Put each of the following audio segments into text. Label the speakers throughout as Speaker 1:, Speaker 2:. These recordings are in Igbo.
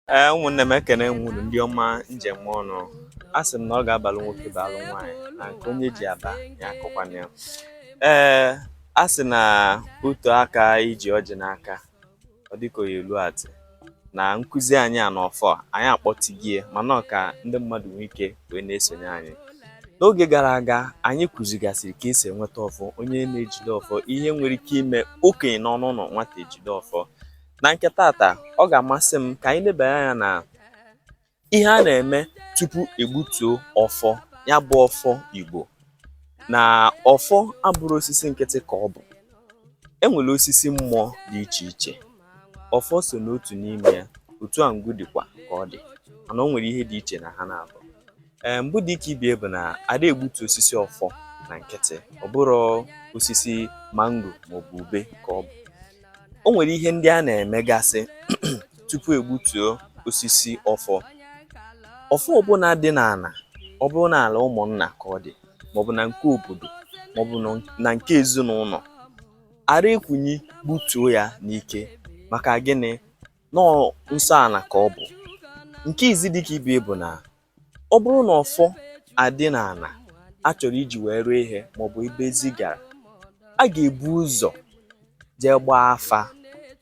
Speaker 1: ee ụmụnne m ekene m unu ndị ọma njem ọnụ a sị m na ọ ga-abalụ nwoke balụ nwaanyị na nke onye ji aba ya akọkwana ya ee a sị na otu aka iji ọjị n'aka ọ dịka oyi elu atị na nkụzi anyị a n'ọfọ anyị akpọtigie mana ọ ka ndị mmadụ nwee ike wee na-esonye anyị n'oge gara aga anyị kụzigasịrị ka esi enweta ọfọ onye na-ejide ọfọ ihe nwere ike ime okenye nọ n'ụlọ nwata ejide ọfọ na nke tata ọ ga-amasị m ka anyị lebanye anya na ihe a na-eme tupu egbutuo ọfọ ya bụ ọfọ Igbo na ọfọ abụrọ osisi nkịtị ka ọ bụ enwere osisi mmụọ dị iche iche ọfọ so n'otu n'ime ya otu a ngwu dịkwa ka ọ dị mana o nwere ihe dị iche na ha naabọ ee mbụ dị ka ibie bụ na ada egbutu osisi ọfọ na nkịtị ọ bụrụ osisi mango maọbụ ube ka ọ bụ o nwere ihe ndị a na-emegasị tupu egbutuo osisi ọfọ ọfọ ọbụla dị n'ala ọ bụrụ na ala ụmụnna ka ọ dị maọbụ na nke obodo maọbụ na nke ezinụlọ ara ekunie gbutuo ya n'ike maka gịnị nọọ nsọ ala ka ọ bụ nke izi dịka ibie bụ na ọ bụrụ na ọfọ adị n'ala a chọrọ iji wee rụọ ihe maọbụ ebe ezi gara a ga-ebu ụzọ jee gbaa afa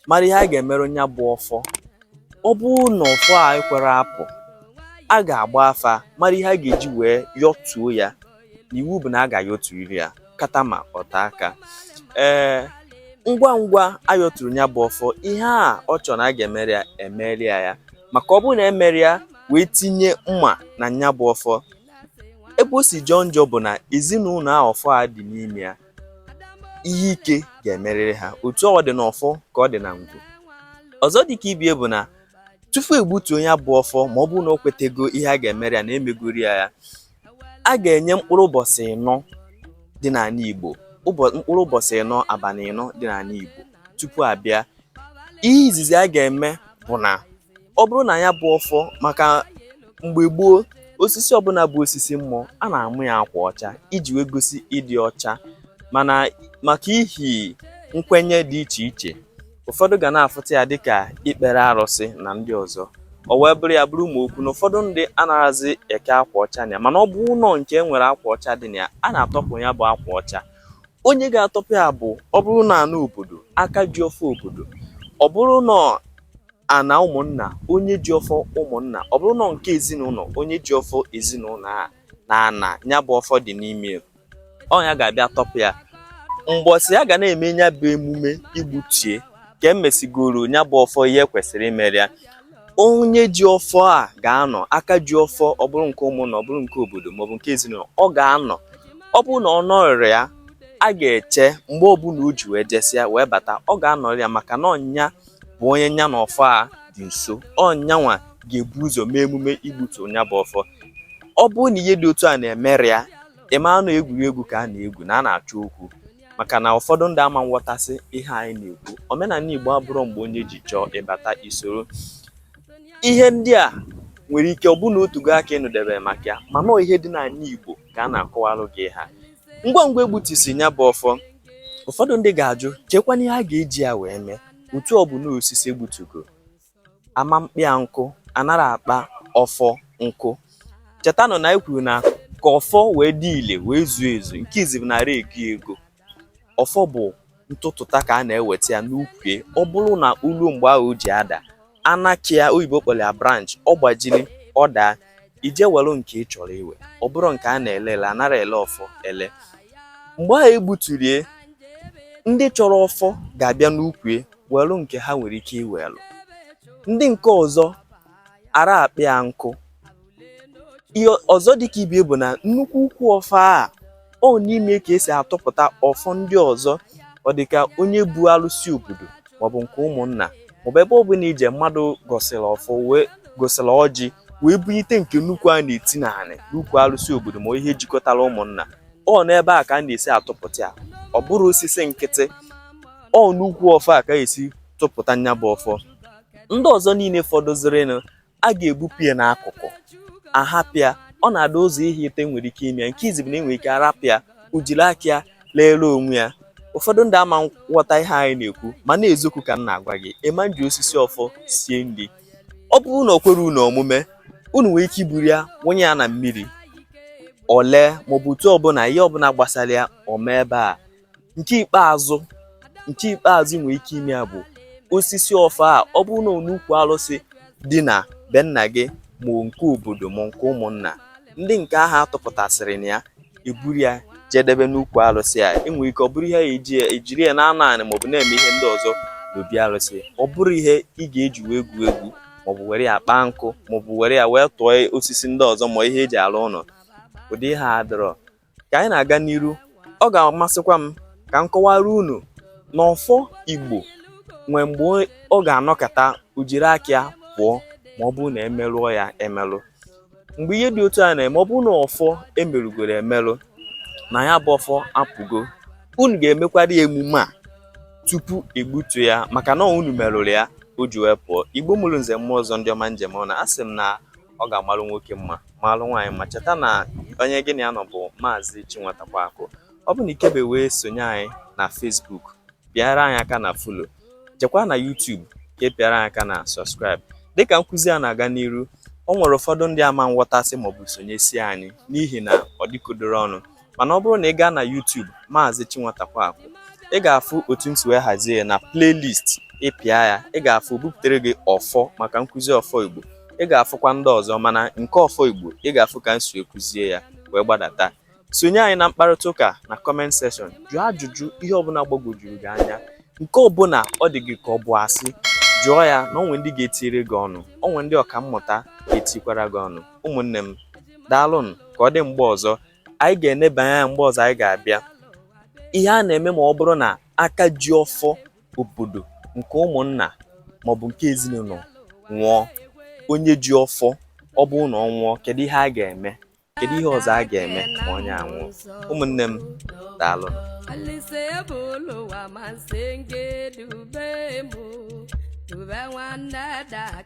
Speaker 1: mara ihe a ga-emere ya bụ ọfọ ọ bụrụ na ọfọ a ekwerọ apụ a ga-agba afa mara ihe a ga-eji wee yọtuo ya iwu bụ na a ga-ayọturiri ya kata ma ọta aka ee ngwa ngwa ayọturu ya bụ ọfọ ihe a ọ chọrọ na a ga-emere ya emere ya ya maka ọ bụrụ na emerọ ya wee tinye mma na ya bụ ọfọ ebe o si jọọ njọ bụ na ezinụlọ a ọfọ a dị n'ime ya ihe ike ga-emerịrị ha otu ọ dị n'ọfọ ka ọ dị na ngwu ọzọ dị ka ibie bụ na tupu egbutuo ya bụ ọfọ ma ọ bụrụ na o kwetego ihe a ga-emere ya na emegoro ya ya a ga-enye mkpụrụ ụbọchị ịnọ dị n'ala Igbo mkpụrụ ụbọchị ịnọ abalị ịnọ dị n'ala Igbo tupu abịa ihe izizi a ga-eme bụ na ọ bụrụ na ya bụ ọfọ maka mgbe gboo osisi ọbụla bụ osisi mmụọ a na-ama ya akwa ọcha iji wee gosi ịdị ọcha mana maka ihi nkwenye dị iche iche ụfọdụ ga na-afụta ya dịka ikpere arụsị na ndị ọzọ o wee bụrụ ya bụrụ ma okwu na ụfọdụ ndị anaghịzi eke akwa ọcha na ya mana ọ bụrụ nke e nwere akwa ọcha dị na ya a na-atọpụ ya bụ akwa ọcha onye ga-atọpụ ya bụ ọ bụrụ na ana obodo aka ji ọfọ obodo ọ bụrụ na ana ụmụnna onye ji ọfọ ụmụnna ọ bụrụ na nke ezinụlọ onye ji ọfọ ezinụlọ a na ana ya bụ ọfọ dị n'ime ọ nya ga-abịa tọpụ ya mbọsị a ga na-eme nya bụ emume igbutie ka emesigoro nya bụ ọfọ ihe kwesịrị imere ya onye ji ọfọ a ga-anọ aka ji ọfọ ọ bụrụ nke ụmụnna ọ bụrụ nke obodo maọbụ nke ezinụlọ ọ ga-anọ ọ bụrụ na ọ nọrịrị ya a ga-eche mgbe ọbụla o ji wee jesịa wee bata ọ ga-anọrị ya maka na ọ nya bụ onye nya na ọfọ a dị nso ọ nyanwa ga-ebu ụzọ mee emume igbutu nya bụ ọfọ ọ bụrụ na ihe dị otu a na-emere ya ịma na egwuregwu ka a na-egwu na a na-achọ okwu maka na ụfọdụ ndị ama nghọtasị ihe anyị na-ekwu omenanị Igbo abụrụ mgbe onye ji chọọ ịbata i soro ihe ndị a nwere ike ọ bụrụ na o tego aka ị nụdebe maka ya mana ihe dị n'ana Igbo ka a na-akọwalụ gị ha ngwa ngwa egbutusi nya bụ ọfọ ụfọdụ ndị ga-ajụ chekwana ihe a ga-eji ya wee mee otu ọ bụ na osisi egbutugo ama mkpịa nkụ anara akpa ọfọ nkụ chetanụ na anyị kwuru na ka ọfọ wee dị ile wee zuo ezu nke izi bụ narị ego ego ọfọ bụ ntụtụta ka a na-eweta ya n'ukwu ọ bụrụ na o lu mgbe ahụ o ji ada anakịa oyibo kpọrọ ya branch ọ gbajiri ọ daa i je were nke ị chọrọ iwe ọ bụrụ nke a na-ele ele anara ele ọfọ ele mgbe ahụ egbuturie ndị chọrọ ọfọ ga-abịa n'ukwue were nke ha nwere ike iwelu ndị nke ọzọ ara akpị ya nkụ ihe ọzọ dịka ibie bụ na nnukwu ukwu ọfọ a ọ n'ime ka esi atụpụta ọfọ ndị ọzọ ọ dị ka onye bu alụsị obodo maọbụ nke ụmụnna maọbụ ebe ọ bụla i je mmadụ gọsịrị ọfọ wee gọsịrị ọjị wee bunyite nke nnukwu a na-eti n'anị n'ukwu alụsị obodo ma ihe jikọtara ụmụnna ọ n'ebe a ka a na-esi atụpụta ya ọ bụrụ osisi nkịtị ọ n'ukwu ọfọ a ka esi tụpụta nya bụ ọfọ ndị ọzọ niile fọdụzirinụ a ga-ebupụ ya n'akụkụ ahapịa ọ na-ada ụzọ ihe ịtọ nwere ike ime nke izi bụ na enwere ike arapịa o jiri aka ya leere onwe ya ụfọdụ ndị ama nghọta ihe anyị na-ekwu mana ezokwu ka m na-agwa gị ịma nji osisi ọfọ sie nri ọ bụrụ na o kwere unu omume unu nwee ike iburu ya wụnye ya na mmiri o lee maọbụ otu ọbụla ihe ọbụla gbasara ya o mee ebe a nke ikpeazụ nke ikpeazụ nwere ike ime ya bụ osisi ọfọ a ọ bụrụ na onukwu alụsị dị na be nna gị ma nke obodo ma nke ụmụnna ndị nke ahụ atụpụtasịrị na ya eburu ya jedebe n'ukwu alụsị a enwere ike ọ bụrụ ihe eji ejiri ya na-anọ anị maọbụ na-eme ihe ndị ọzọ n'obi alụsị ọ bụrụ ihe ị ga-eji wee gwue egwu maọbụ were ya kpaa nkụ maọbụ were ya wee tụọ osisi ndị ọzọ ma ihe eji alụ ụlọ ụdị ihe a adịrọ ka anyị na-aga n'iru ọ ga-amasịkwa m ka m kọwara unu na ọfọ Igbo nwee mgbe ọ ga-anọkata o jiri aka ya pụọ ma ọ bụrụ na emerụọ ya emerụ mgbe ihe dị otu a na-eme ọ bụrụ na ọfọ emerụgoro emerụ na ya bụ ọfọ apụgo unu ga-emekwara ya emume a tupu egbutu ya maka na unu merụrụ ya o ji wee pụọ Igbo mụrụ nze mụọ ọzọ ndị ọma njem ọnụ asị m na ọ ga-amalụ nwoke mma malụ nwaanyị ma cheta na onye gị na ya nọ bụ maazị Chinwatakwa Akụ ọ bụrụ na ikebe wee sonye anyị na Facebook pịara anyị aka na follow jekwa na YouTube ka ị pịara anyị aka na subscribe dịka nkụzi a na-aga n'iru o nwere ụfọdụ ndị ama nghọtasị maọbụ sonyesie anyị n'ihi na ọ dịkodoro ọnụ mana ọ bụrụ na ị gaa na YouTube Maazị Chinwatakwa Akụ ị ga-afụ otu m si wee hazie na playlist ị pịa ya ị ga-afụ bupụtere gị ọfọ maka nkụzi ọfọ Igbo ị ga-afụkwa ndị ọzọ mana nke ọfọ Igbo ị ga-afụ ka m si ekụzie ya wee gbadata sonye anyị na mkparịta ụka na comment section jụọ ajụjụ ihe ọbụla gbagwojuru gị anya nke ọbụla ọ dị gị ka ọ bụ asị jụọ ya na o nwe ndị ga-etiri gị ọnụ o nwe ndị ọka mmụta ga-etikwara gị ọnụ ụmụnne m daalụnụ ka ọ dị mgbe ọzọ anyị ga-enebanye anya mgbe ọzọ anyị ga-abịa ihe a na-eme ma ọ bụrụ na aka ji ọfọ obodo nke ụmụnna maọbụ nke ezinụlọ nwụọ onye ji ọfọ ọ bụrụ na ọ nwụọ kedu ihe a ga-eme kedu ihe ọzọ a ga-eme ma onye a nwụọ ụmụnne m daalụ Ube nwanne dake